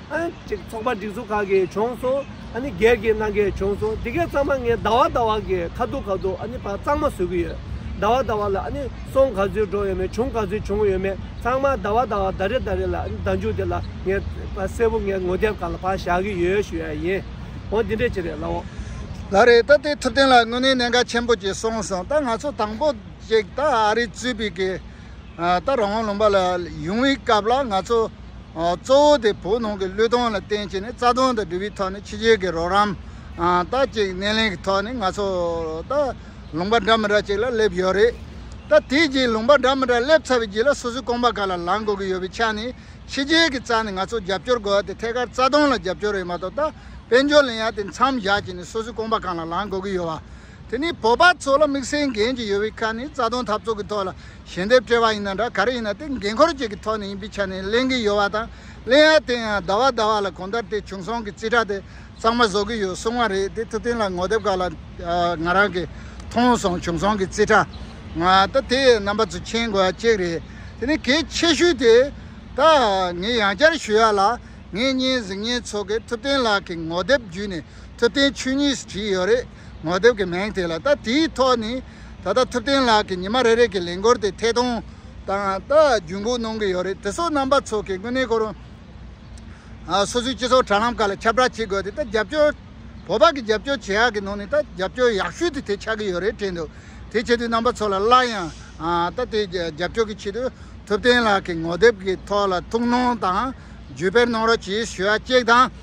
གཅིག་ཚོགས་པ་སྒྲིག་འཛུགས་ཁག་གིས་བྱུང་སོང། སྒེར་གྱིས་གནང་མཁན་བྱུང་སོང། དེ་གའི་གཙང་མ་ངས་ཟླ་བ་ཟླ་བ་གི་ཁ་ཐུག་ཁ་ཐུག་བར་གཙང་མ་བཟོས་ཀྱི་ཡོད། ཟླ་བ་ཟླ་བ་ལ་སོང་ག་ཚོད་འགྲོ་ཡོད་མེད་བྱུང་ག་ཚོད་བྱུང་ཡོད་མེད་ཚང་མ་ཟླ་བ་ཟླ་བ་ཟླ་རེ་ཟླ་རེ་ལ་ཟླ་མཇུག་དེ་ལ་ངས་གསལ་པོ་ངའི་ངོ་དེབ་ཁག་ལ་ཕར་བཞག་གི་ཡོད་ཞུ་ཡ་ཡིན། འོ་འདི་འདྲས་ཅི་རེད་ལབ་འོང། ལ་རེད་ད་ལྟའི་ཐུབ་བསྟན་ལ་དངོས་གནས་གནད་འགག་ཆེན་པོ་གཅིག་སོང་སོང་ད་ང་ཚོ་དང་པོ་གཅིག་ད་ཨ་རི་གཙོས་པའི་གི་ད་རང་དབང་ལུང་པ་ལ་ཡོང་བའི་སྐབས་ལ་ང་ཚོ་གཙོ་བོ་དེ་བོད་ནང་གི་བློས་གཏོང་ལ་བརྟེན་བྱས་ནས་རྩ་དོན་དང་འབྲེལ་བའི་ཐོག་ནས་ཕྱི་རྒྱལ་གྱི་རོགས་རམ་ད་ཅིག་སྣེ་ལེན་གྱི་ཐོག་ནས་ང་ཚོ་ད་ལུང་པ་འདྲ་མི་འདྲ་ཅིག་ལ་སླེབས་ཡོད་རེད། ད་དེའི་རྗེས་ལུང་པ་འདྲ་མི་འདྲ་སླེབས་ཚར་བའི་རྗེས་ལ་སོ་སོའི་རྐང་པ་ག་ལ་ལངས་དགོས་ཀྱི་ཡོད་པའི་ཆ་ནས་ཕྱི་རྒྱལ་གྱི་རྩ་ནས་ང་ཚོ་རྒྱབ་སྐྱོར་དགོས་ཏེ་ཐད་ཀར་རྩ་དོན་ལ་རྒྱབ་སྐྱོར་རེད་མ་གཏོགས་ད་དཔལ་འབྱོར་ལ་ཡང་དེ་མཚམས་བཞག་བྱས་ནས་སོ་སོའི་རྐང་པ་གང་ལ་ལངས་དགོས་ཀྱི་ཡོད་བ། དེ་ནི་བོད་པ་ཚོ་ལ་དམིགས་བསལ་འགན་གཅིག་ཡོད་པའི་ཁ་ནས་རྩ་དོན་འཐབ་རྩོད་ཀྱི་ཐོག་ལ་ཞལ་འདེབས་སྤྲད་པ་ཡིན་ན་འདྲ་ག་རེ་ཡིན་ན་དེ་འགན་འཁུར་བཅས་ཀྱི་ཐོག་ནས་ཡིན་པའི་ཆ་ནས་གླེང་གི་ཡོད་པ་དང་གླེང་ཡ་དེ་ཡང་ཟླ་བ་ཟླ་བ་ལ་གོང་ལྟར་དེ་བྱུང་སོང་གི་རྩིས་ཁྲ་དེ་གཙང་མ་བཟོ་གི་ཡོད་གསུང་བ་རེད་དེ་ཐུབ་བསྟན་ལགས་ངོ་དེབ་ཁག་ལ་ང་རང་གིས་མཐོང་སོང་བྱུང་སོང་གི་རྩིས་ཁྲ་ང་ད་དེ་རྣམ་པ་ཚོ་མཁྱེན་དགོས་བ་གཅིག་རེད་དེ་ནི་གལ་ཆེ་ཤོས་དེ་ད་ངས་ཡང་བསྐྱར་ཞུ་ཡ་ལ་ངེད་གཉིས་གཟིགས་ཉེན་ཚོགས་ཀྱིས་ཐུབ་བསྟན་ལགས་ཀྱི་ངོ་དེབ་བརྒྱུད་ནས་ཐུབ་བསྟན་ཆོས་ཉིད་བྲིས་ཡོད་རེད། ངོ་དེབ་ཀྱི་མིང་དེ་ལ་ལྟ་དེའི་ཐོག་ནས་ད་ལྟ་ཐུབ་བསྟན་ལགས་ཀྱིས་ཉི་མ་རེ་རེ་གི་ལས་འགུལ་དེ་ཐད་གཏོང་དང་ལྟ་རྒྱུན་འགོག་གནོང་གི་ཡོད་རེད་དེ་སོགས་རྣམ་པ་ཚོགས་ཀྱི་དངོས་གནས་ཁོར་སོ་སོའི་སྤྱི་ཚོགས་དྲ་ལམ་ཁག་ལ་ཁྱབ་བསྒྲགས་བྱེད་དགོས་ཏེ་ད་རྒྱབ་སྐྱོར་བོད་པ་གི་རྒྱབ་སྐྱོར་བྱེད་ཡག་གི་ནང་ནས་ད་རྒྱབ་སྐྱོར་ཡག་ཤོས་དེ་དེ་ཆགས་ཀྱི་ཡོད་རེད་དྲན་འདུག་དེ་བྱེད་དུས་རྣམ་པ་ཚོ་ལ་སླར་ཡང་ད་དེ་རྒྱབ་སྐྱོར་གྱི་ཆེད་དུ་ཐུབ་བསྟན་ལགས་ཀྱི་ངོ་དེབ་ཀྱི་ཐོག་ལ་ཐུགས་སྣང་དང་བརྒྱུད་སྤེལ་གནང་རོགས་གྱིས་ཞུ་བ་གཅིག་དང།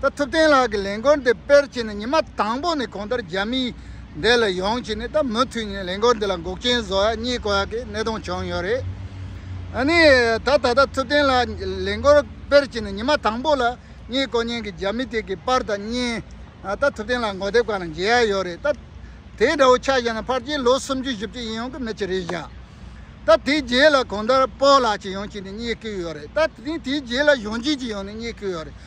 ད་ཐུབ་བསྟན་ལགས་ཀྱི་ལས་འགོར་འདི་དཔེར་བྱས་ནས་ཉི་མ་དང་པོ་ནས་གོང་ལྟར་རྒྱ་མིའི་འདས་ལ་ཡོང་བྱས་ནས་ད་མུ་མཐུད་ནས་ལས་འགོར་འདི་ལ་འགོག་རྐྱེན་བཟོ་ཡ་རྙེད་གོ་ཡ་གི་གནད་དོན་བྱུང་ཡོད་རེད། ཨ་ནི་ད་ད་ལྟ་ཐུབ་བསྟན་ལགས་ཀྱི་ལས་འགོར་དཔེར་བྱས་ནས་ཉི་མ་དང་པོ་ལ་རྙེད་གོ་རྙེད་གི་རྒྱ་མི་དེ་གི་པར་དང་བརྙན་ད་ཐུབ་བསྟན་ལགས་འགོ་དེབ་ཁང་ལ་མཇལ་ཡ་ཡོད་རེད་ད། དེ་འདྲ་བོ་ཆགས་བཞག་ན་ཕར་རྒྱའི་ལོ་སུམ་ཅུ་བཞི་བཅུ་ཡིན་ཡོང་གི་མེད་ཅི་རེད་བཞག་ད་དེའི་རྗེས་ལ་གོང་ལྟར་སྤོ་ལགས་ཅིག་ཡོང་བྱས་ནས་རྙེད་ཀི་ཡོད་རེད་ད་དེ་ནས་དེའི་རྗེས་ལ་གཞོན་སྐྱེས་ཅིག་ཡོང་ནས་རྙེད་ཀི་ཡོད་རེད།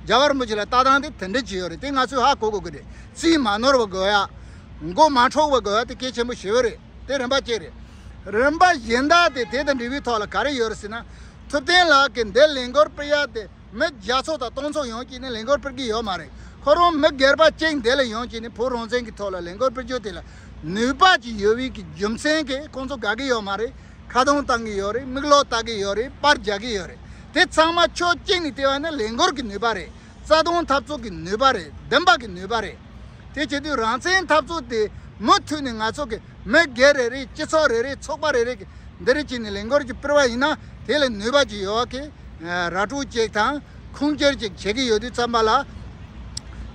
རྒྱ་གར་མི་ཆེ་ལ་ལྟ་སྟངས་དེ་དེ་འདྲས་བྱས་ཡོད་རེད་དེ་ང་ཚོས་ཧ་གོ་དགོས་ཀྱི་རེད་རྩིས་མ་ནོར་བ་དགོས་ཡ། མགོ་མ་འཕྲོག་བ་དགོས་ཡ་དེ་གལ་ཆེན་པོ་ཞེ་བོ་རེད་དེ་རིན་པ་གཅིག་རེད། རིན་པ་གཞན་དག་དེ་དེ་དང་འབྲེལ་བའི་ཐོག་ལ་ག་རེ་ཡོད་རེད་ཟེར་ན། ཐུབ་བསྟན་ལགས་ཀྱིས་འདི་ལས་འགུལ་སྤེལ་ཡ་དེ་མི་བརྒྱ་ཚོ་དང་སྟོང་ཚོ་ཡོང་བྱས་ནས་ལས་འགུལ་སྤེལ་གྱི་ཡོད་མ་རེད་ཁོ་རང་མི་སྒེར་པ་གཅིག་འདི་ལ་ཡོང་བྱས་ནས་བོད་རང་བཙན་གྱི་ཐོག་ལ་ལས་འགུལ་སྤེལ་རྒྱུ་དེ་ལ་ནུས་པ་ཅིག་ཡོད་བའི་རྒྱུ་མཚན་གྱིས་ཁོང་ཚོ་དགའ་གི་ཡོད་མ་རེད། ཁ་རྡུང་བཏང་གི་ཡོད་རེད་མིག་ལོག་ལྟ་གི་ཡོད་རེད་པར་རྒྱག་གི་ཡོད་རེད་དེ་ཚང་མ་ཕྱོགས་གཅིག་ནས་བལྟས་པ་ནི་ལས་འགུལ་གྱི་ནུས་པ་རེད་རྩ་དོན་འཐབ་རྩོད་ཀྱི་ནུས་པ་རེད་བདེན་པ་གྱི་ནུས་པ་རེད། དེ་བྱེད་དུས་རང་བཙན་འཐབ་རྩོད་དེ་མུ་མཐུད་ནས་ང་ཚོ་གི་མི་སྒེར་རེ་རེ་སྤྱི་ཚོགས་རེ་རེ་ཚོགས་པ་རེ་རེ་གི་འདིར་བྱས་ནས་ལས་འགུལ་གྱི་སྤེལ་བ་ཡིན་ན་དེ་ལ་ནུས་པ་ཅི་ཡོད་ཀྱི་ར་སྤྲོད་ཅིག་དང། ཁུངས་སྐྱེལ་ཅིག་བྱེད་ཀྱི་ཡོད་དུས་བརྩམས་པ་ལ།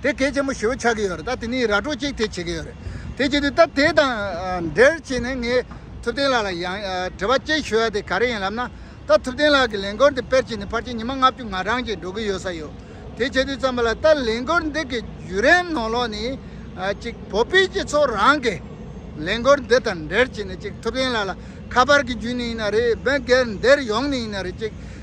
དེ་གལ་ཆེན་པོ་ཞེ་བོ་ཆགས་ཀྱི་ཡོད་རེད་ད་དེ་ནས་ར་སྤྲོད་ཅིག་དེ་བྱེད་ཀྱི་ཡོད་རེད། དེ་བྱེད་དུས་ད་དེ་དང་འབྲེལ་བྱས་ནས་ངས་ཐུབ་བསྟན་ལགས་ལ་ཡང་དྲི་བ་གཅིག་ཞུ་ཡ་དེ་ག་རེ་ཡིན་ལབ་ན། ད་ཐུབ་བསྟན་ལགས་ཀྱི་ལས་འགོར་འདི་སྤེལ་བྱས་ནས་ཕར་ཆེར་ཉི་མ་ལྔ་བཅུ་ང་རང་གིས་འགྲོ་གི་ཡོད་ས་ཡོད། དེ་བྱེད་དུས་བརྩམས་པ་ལ་ད་ལས་འགོར་འདི་གི་བརྒྱུད་རིམ་ནང་ལོགས་ནས། གཅིག་བོད་པའི་སྤྱི་ཚོགས་རང་གིས་ལས་འགོར་འདི་དང་འབྲེལ་བྱས་ནས་གཅིག་ཐུབ་བསྟན་ལགས་ལ་ཁ་པར་གྱི་བརྒྱུད་ནས་ཡིན་ན་རེད་སྦེན་སྒེར་འདིར་ཡོང་ནས་ཡིན་ན་རེད་ཅིག།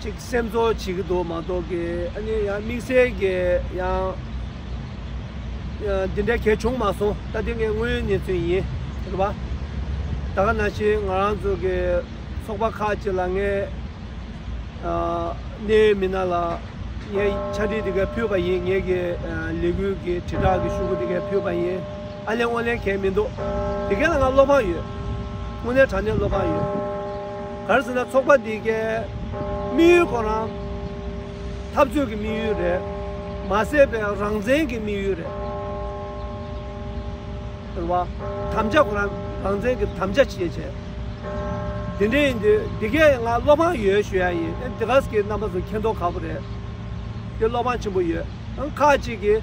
ཅིག་སེམས་ཚོར་བྱེད་ཀྱི་འདུག་མ་གཏོགས་ཀྱི་ཨ་ནི་ཡང་དམིགས་བསལ་གྱི་ཡང་འདི་འདྲའི་གལ་བྱུང་མ་སོང་ད་དེ་ངའི་དངོས་ཡོད་གནས་ཚུལ་ཡིན་རེད་པ། ད་ག་ན་ཕྱིན་ང་རང་ཚོ་གི་ཚོགས་པ་ཁག་ཅིག་ལ་ངས་གནད་ཡོད་མི་སྣ་ལ་ངས་འཆར་སྒྲིག་འདི་གའི་ཕུལ་བ་ཡིན་ངེད་ཀྱི་ལས་འགུལ་གྱི་དྲིལ་བསྒྲགས་ཀྱི་ཤུགས་ཀྱི་འདི་གའི་ཕུལ་བ་ཡིན། ཨ་ལན་ཨོ་ལན་གལ་མི་འདུག་དེ་སྐད་ལ་ང་བློ་ཕངས་ཡོད། དངོས་གནས་དྲང་གནས་བློ་ཕངས་ཡོད། ག་རེ་ཟེར་ན་ཚོགས་པ་འདི་གའི་དམིགས་ཡུལ་ཁོ་རང་འཐབ་རྩོད་ཀྱི་དམིགས་ཡུལ་རེད་མ་ཟད་པའི་རང་བཙན་གྱི་དམིགས་ཡུལ་རེད། ཟེར་བ། དམ་བཅའ་ཁོ་རང་རང་བཙན་གྱི་དམ་བཅའ་བྱེད་བྱས། དེ་འདྲ་ཡིན་དུས་འདི་གས་ང་བློ་ཕངས་ཡོད་ཞུ་ཡ་ཡིན། ཨེ་འདི་ག་ཟེ་གའི་རྣམ་པ་ཚོ་མཁྱེན་རྟོགས་ཁག་པོ་རེད། དེ་བློ་ཕངས་ཆེན་པོ་ཡོད། ཁག་ཅིག་གིས།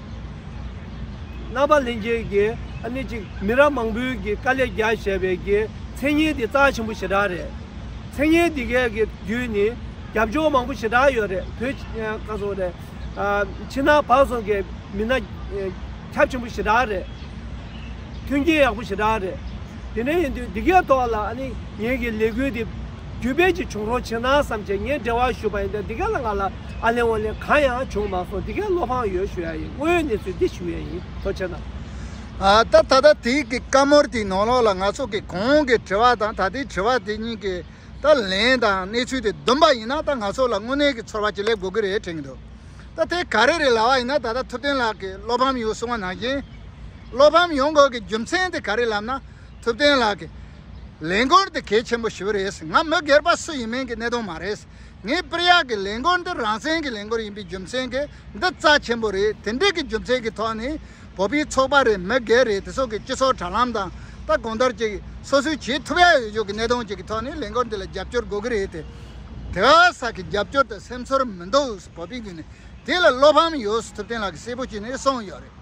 རྣམ་པ་ལྷན་སྐྱེས་ཀྱི་ཨ་ནི་གཅིག་མི་རབས་མང་པོའི་ཀྱི་དཀའ་ལས་རྒྱག་བཞེས་པའི་ཀྱི་མཚན་སྙན་དེ་རྩ་ཆེན་པོ་ཞེ་དྲག་རེད། མཚན་སྙན་དེ་གའི་ཀྱི་བརྒྱུད་ནི་རྒྱབ་ལྗོངས་མང་པོ་ཞེ་དྲག་ཡོད་རེད་བོད་ཁ་སོང་རེད། ཕྱི་ནང་བག་སོང་ཀྱི་མི་སྣ་ཁྱབ་ཆེན་པོ་ཞེ་དྲག་རེད། མཐུན་རྐྱེན་ཡག་པོ་ཞེ་དྲག་རེད། དེ་འདྲ་ཡིན་དུས་དེ་གའི་ཐོག་ལ་ཨ་ནི་ངེད་ཀྱི་ལས་འགུལ་དེ། རྒྱུད་དཔལ་གྱི་བྱུང་རོགས་བྱེད་ན་བསམ་ཁྱེད་ངས་འབྲེལ་བ་ཞུས་པ་ཡིན་དེ་འདི་ག་ལ་ང་ལ་ཨ་ལེ་ཨོ་ལེ་གང་ཡང་བྱུང་མ་སོང་འདི་གས་བློ་ཕངས་ཡོད་ཞུ་ཡ་ཡིན་དངོས་ཡོད་གནས་ཚུལ་འདི་ཞུ་ཡས་ཡིན་ཐོ་ཆེ་ན། སྟབས་ད་ལྟ་དེ་གའི་བཀའ་མོལ་དེའི་ནང་ལོགས་ལ་ང་ཚོ་གིས་གོང་གི་དྲི་བ་དང་ད་ལྟའི་དྲི་བ་དེ་གཉིས་ཀྱི་ད་ལན་དང་གནས་ཚུལ་དེ་བསྡོམས་པ་ཡིན་ན་ད་ང་ཚོ་ལ་དངོས་གནས་ཀྱི་ཚོར་བ་ཅི་ལེགས་འགོ་གི་རེད་དྲན་གི་འདུག་ད་དེ་ག་རེ་རེད་ལ་བ་ཡིན་ན་ད་ལྟ་ཐུབ་བསྟན་ལགས་ཀྱིས་བློ་ཕམ་ཡོད་གསུང་བ་ནང་བཞིན་བློ་ཕམ་ཡོང་དགོས་ཀྱི་རྒྱུ་མཚན་དེ་ག་རེ་ལབ་ན། ཐུབ་བསྟན་ལགས་ཀྱི་ལས་འགོར་འདི་གལ་ཆེན་པོ་ཞིག་རེད་ང་མི་སྒེར་པ་སུ་ཡིན་མིན་གྱི་གནད་དོན་མ་རེད་ངས་པིར་ཡག་གི་ལས་འགོར་འདི་རང་བཙན་གྱི་ལས་འགོར་ཡིན་པའི་རྒྱུ་མཚན་གྱི་འདི་རྩ་ཆེན་པོ་རེད་དེ་འདྲིག་གི་རྒྱུ་མཚན་གྱི་ཐོག་ནས་བོད་པའི་ཚོགས་པ་རེད་མི་སྒེར་རེད་དེ་སོགས་ཀྱི་སྤྱི་ཚོགས་དྲ་ལམ་དང་ད་གོང་ལྟར་གྱི་སོ་སོའི་བྱེད་ཐུབ་ཡག་ཡོད་ཡོད་གྱི་གནད་དོན་གཅིག་གི་ཐོག་ནས་ལས་འགོར་འདི་ལ་རྒྱབ་སྐྱོར་དགོས་ཀྱི་རེད་དེ། དེ་ག་ས་གི་རྒྱབ་སྐྱོར་དང་སེམས་ཚོར་མི་འདུག་བོད་པའི་རྒྱུ་ནས་དེ་ལ་བློ་ཕམ་ཡོད་ཐུབ་བསྟན་ལགས་ཀྱི་གསལ་པོ་བྱས་ནས་གསུངས་ཡོད་རེད།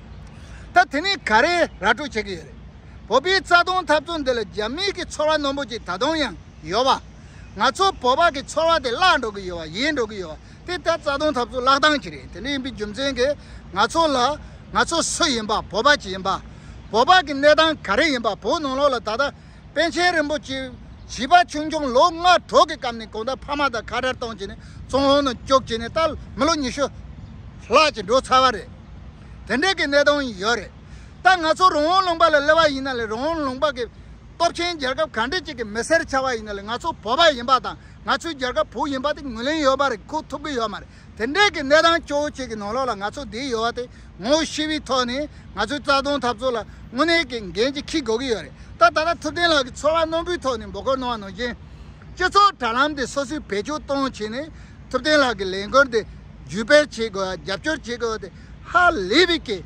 ད་དེ་ནི་ག་རེ་ར་སྤྲོད་བྱེད་ཀྱི་ཡོད་རེད། བོད་པའི་རྩ་དོན་འཐབ་རྩོད་འདི་ལ་རྒྱ་མིས་ཀྱི་ཚོར་བ་ནོམ་པོ་ཅིག་ད་དུང་ཡང་ཡོད་པ། ང་ཚོ་བོད་པ་གི་ཚོར་བ་དེ་བརླག་འགྲོ་གི་ཡོད་པ་ཡིན་འགྲོ་གི་ཡོད་པ་དེ་ལྟར་རྩ་དོན་འཐབ་རྩོད་བརླག་སྟངས་ཅིག་རེད་དེ་འདྲ་ཡིན་པའི་རྒྱུ་མཚན་གྱིས་ང་ཚོ་ལ་ང་ཚོ་སུ་ཡིན་པ་བོད་པ་ཅི་ཡིན་པ། བོད་པ་གི་གནས་སྟངས་ག་རེ་ཡིན་པ་བོད་ནང་ལོགས་ལ་ད་ལྟ། པཎ་ཆེན་རིན་པོ་ཆེ་བྱིས་པ་ཆུང་ཆུང་ལོ་ལྔ་དྲུག་གི་སྐབས་ནས་གོང་ད་ཕ་མ་དང་ཁ་བྲལ་གཏོང་བྱས་ནས་ཙུང་ཧོང་ནང་བསྐྱོད་བྱས་ནས་ད་མི་ལོ་ཉི་ཤུ་ལྷག་ཅིག་འགྲོ་ཚར་བ་རེད། དེ་འདྲའི་གི་གནས་སྟངས་ཡོད་རེད། ད་ང་ཚོ་རོང་བོ་ལུང་པ་ལ་སླེབས་པ་ཡིན་ན་ལས་རོང་བོ་ལུང་པ་གི་སྟོབས་ཆེན་རྒྱལ་ཁབ་གང་འདྲས་ཅིག་གི་མི་སེར་ཆགས་པ་ཡིན་ན་ལས་ང་ཚོ་བོད་པ་ཡིན་པ་དང་ང་ཚོའི་རྒྱལ་ཁབ་བོུ་ཡིན་པ་དེ་ངོས་ལེན་ཡོད་པ་རེད་ཁུག་ཐུབ་གི་ཡོད་མ་རེད། དེ་འདྲའི་གི་གནས་སྟངས་སྐྱོ་བོ་ཅིག་གི་ནང་ལོགས་ལ་ང་ཚོ་འདི་ཡོད་བ་དེ་ངོ་བོ་ཤི་བའི་ཐོག་ནས་ང་ཚོའི་རྩ་དོན་འཐབ་རྩོད་ལ་དངོས་གནས་གི་འགན་ཅིག་འཁྱིལ་དགོས་གི་ཡོད་རེད་ད་ད་ལྟ་ཐུབ་བསྟན་ལགས་ཀྱི་ཚོར་བ་རྣོན་པོའི་ཐོག་ནས་འབོད་སྐོར་གནང་བ་ནང་བཞིན། སྤྱི་ཚོགས་དྲ་ལམ་དེ་སོ་སོས་བེད་སྤྱོད་གཏོང་བྱས་ནས་ཐུབ་བསྟན་ལགས་ཀྱི་ལས་འགུལ་འདི་བརྒྱུད་སྤེལ་བྱེད་དགོས་བ་རྒྱབ་སྐྱོར་བྱེད་དགོས་བ་དེ་ཧ་ལས་པའི་གི་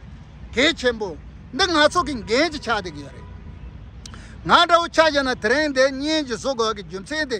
གལ་ཆེན་པོ། འདི་ང་ཚོ་གི་འགན་ཅིག་ཆགས་བསྡད་གི་ཡོད་རེད། ང་འདྲ་བོ་ཆགས་བཞག་ན་དེ་རིང་འདི་སྙན་ཅིག་བཟོ་དགོས་བ་གི་རྒྱུ་མཚན་དེ།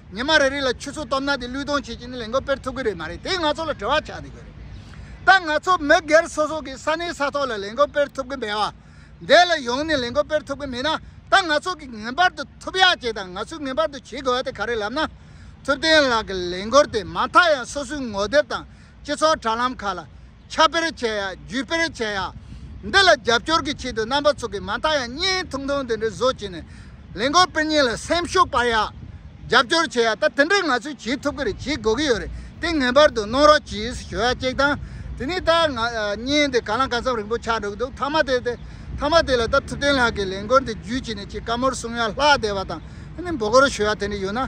ཉི་མ་རེ་རེ་ལ་ཆུ་ཚོད་སྟོབས་ན་དེ་བློས་གཏོང་བྱེད་ཀྱིན་ལས་འགུལ་སྤེལ་ཐུབ་ཀྱི་རེད་མ་རེད་དེ་ང་ཚོ་ལ་དྲི་བ་ཆགས་འདུག་གི་རེད། ད་ང་ཚོ་མི་སྒེར་སོ་སོ་གིས་ས་གནས་ས་ཐོག་ལ་ལས་འགུལ་སྤེལ་ཐུབ་ཀྱི་མེད་བ། འདས་ལ་ཡོང་ནས་ལས་འགུལ་སྤེལ་ཐུབ་ཀྱི་མེད་ན་ད་ང་ཚོ་གིས་ངེས་པར་དུ་ཐུབ་ཡག་བྱེད་དང་ང་ཚོས་ངེས་པར་དུ་བྱེད་དགོས་བ་དེ་ག་རེ་ལབ་ན། ཐུབ་བསྟན་ལགས་ཀྱི་ལས་འགུལ་དེ་མ་མཐའ་ཡང་སོ་སོའི་ངོ་དེབ་དང་སྤྱི་ཚོགས་དྲ་ལམ་ཁག་ལ། ཁྱབ་སྤེལ་བྱས་ཡ་བརྒྱུད་སྤེལ་བྱས་ཡ། འདི་ལ་རྒྱབ་སྐྱོར་གྱི་ཆེད་དུ་རྣམ་པ་ཚོ་གིས་མ་མཐའ་ཡང་བརྙན་ཐུང་ཐུང་དེ་འདྲའི་བཟོ་བྱས་ནས། ལས་འགོ་སྤེལ་གཉིས་ལ་སེམས་ཤུགས་སྤར་ཡ། རྒྱབ་སྐྱོར་བྱས་ཡ་ད་དེ་འདྲས་ང་ཚོས་བྱེད་ཐུབ་ཀྱི་རེད་བྱེད་དགོས་ཀྱི་ཡོད་རེད་དེ་ངེས་པར་དུ་གནོང་རོགས་གྱིས་ཞུ་ཡ་གཅིག་དང། དེ་ནས་ད་ང་བརྙན་དེ་ག་ལ་ག་ཚམ་རིང་པོ་ཆགས་འགྲོ་གི་འདུག་མཐའ་མ་དེ་མཐའ་མ་དེ་ལ་ད་ཐུབ་བསྟན་ལགས་ཀྱིས་ལས་འགོ་འདི་བརྒྱུད་བྱས་ནས་ཆེས་དཀའ་མོར་གསུངས་ཡ་ལྷག་བསྡད་པ་དང། འདི་འབོ་སྒོར་ཞུ་ཡ་དེ་འདྲས་ཡོད་ན།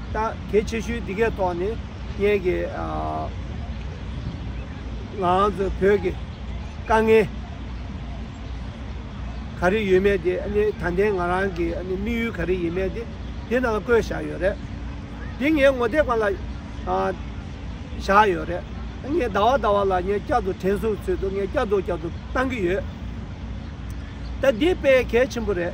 ད་གལ་ཆེ་ཤོས་འདི་གའི་ཐོག་ནས་ངེད་ཀྱི་ང་ཚོ་བོད་ཀྱི་དཀའ་ངལ་ག་རེ་ཡོད་མེད་དེ་ད་ལྟའི་ང་རང་གི་དམིགས་ཡུལ་ག་རེ་ཡིན་མེད་དེ་དེ་རྣམས་བཀོད་བཞག་ཡོད་རེད། དེ་ངའི་ངོ་དེབ་ཁང་ལ་བཞག་ཡོད་རེད། ངས་ཟླ་བ་ཟླ་བ་ལ་ངས་བསྐྱར་དུ་དྲན་གསོའི་ཚུལ་དུ་ངས་བསྐྱར་དུ་བསྐྱར་དུ་བཏང་གི་ཡོད། ད་འདི་དཔེ་གལ་ཆེན་པོ་རེད།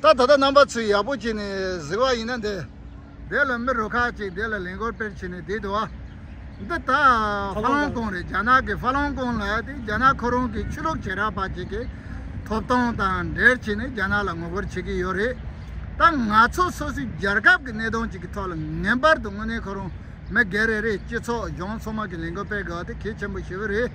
ད་ལྟ་རྣམ་པ་ཚོས་ཡག་པོ་བྱས་ནས་གཟིགས་བ་ཡིན་ན་འདི། དེ་ལ་མི་རུ་ཁག་ཅིག་དེ་ལ་ལན་སྐོར་སྤེལ་བྱས་ནས་དེ་དུ་བ། འདི་ད་ཧྥ་ལོང་ཀོང་རེད་རྒྱ་ནག་གི་ཧྥ་ལོང་ཀོང་ལ་དེ་རྒྱ་ནག་ཁོ་རང་གི་ཆོས་ལུགས་བྱེ་བྲག་པ་ཅིག་གི་ཐོབ་ཐང་དང་འབྲེལ་བྱས་ནས་རྒྱ་ནག་ལ་ངོ་རྒོལ་བྱེད་ཀྱི་ཡོད་རེད། ད་ང་ཚོ་སོ་སོའི་རྒྱལ་ཁབ་ཀྱི་གནས་སྟངས་ཅིག་གི་ཐོག་ལ་ངེས་པར་དུ་དངོས་གནས་ཁོ་རང་མི་སྒེར་རེ་རེས་སྤྱི་ཚོགས་གཞུང་ཚང་མ་གི་ལས་འགུལ་སྤེལ་དགོས་བ་དེ་གལ་ཆེན་པོ་ཞིག་རེད།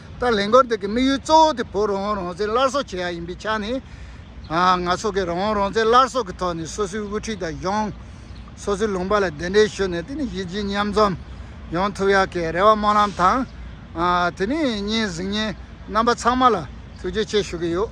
ད་ལས་འགོར་འདེགས་ཀྱི་དམིགས་ཡུལ་གཙོ་བོ་དེ་བོད་རང་དབང་རང་བཙན་སླར་གསོ་བྱེད་ཡག་ཡིན་པའི་ཆ་ནས། ང་ཚོ་གིས་རང་དབང་རང་བཙན་སླར་གསོ་གི་ཐོག་ནས་སོ་སོའི་དབུ་ཁྲིད་དང་གཞུང། སོ་སོའི་ལུང་པ་ལ་གདན་འདྲེན་ཞུས་ནས་དེ་ནི་གཞི་བྱེས་མཉམ་འཛོམས་ཡོང་ཐུབ་ཡག་གི་རེ་བ་སྨོན་ལམ་དང། དེ་ནས་བརྙན་གཟིགས་ཉན་རྣམ་པ་ཚང་མ་ལ་ཐུགས་རྗེ་ཆེ་ཞུ་གི་ཡོད།